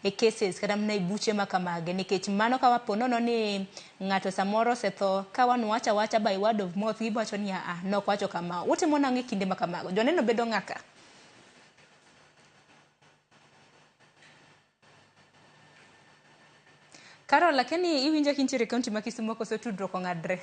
e cases kata mana e buche ma kamagi nikech mano ka po nono ni ng'ato samoro osetho ka wan wacha wacha by word of mouth giwacho ni aa nok wacho kama utimo nang'o e kinde ma kamago joneno bedo ng'a ka Carol, akia ni iwinja kintiere e kaunti ma Kisumo koso tudruok ong'adre.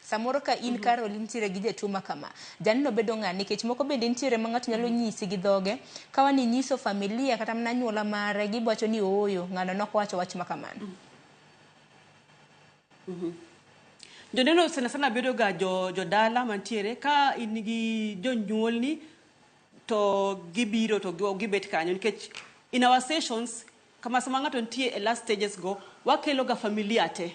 Samoro ka in kar oli nitiere gi jatuo ma kama, jalno bedo ng'a? Nikech moko bende nitiere ma ng'ato nyalo nyisi gi dhoge, ka wani inyiso familia kata mana anyuola mare, gibo wacho ni ooyo, ng'ano nok owacho wach ma kamano. Joneno sana sana bedo ga jo, jo dala mantiere ka in gi jonyuolni to gibiro to gi- gibet kanyo nikech in our sessions Kama sama ng'ato nitie e last stages go, wakelo ga familia te.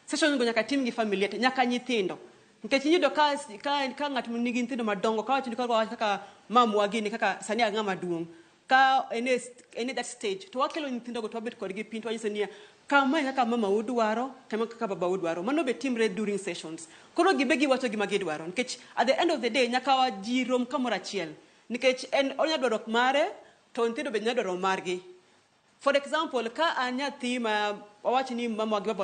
Sessions go nyaka tim gi familia te, nyaka nyithindo. Nikech iyudo ka, ka, ka ng'at nigi nyithindo madongo, ka wacho ni kaka, kaka mamwa gini, kaka sani a ng'ama duong'. Ka en e, en e that stage, to wakelo nyithindo go to wabet kodgi piny to wanyiso niya, kama e kaka mama u dwaro, kama e kaka baba u dwaro. Mano be timre during sessions. Koro gibe giwacho gima gidwaro. Nikech at the end of the day, nyaka wa ji rom kamoro achiel. Nikech en onya dwaro mare, To nyithindo bende nyalo dwaro margi. For example, ka an nyathi ma wawach ni mama gi baba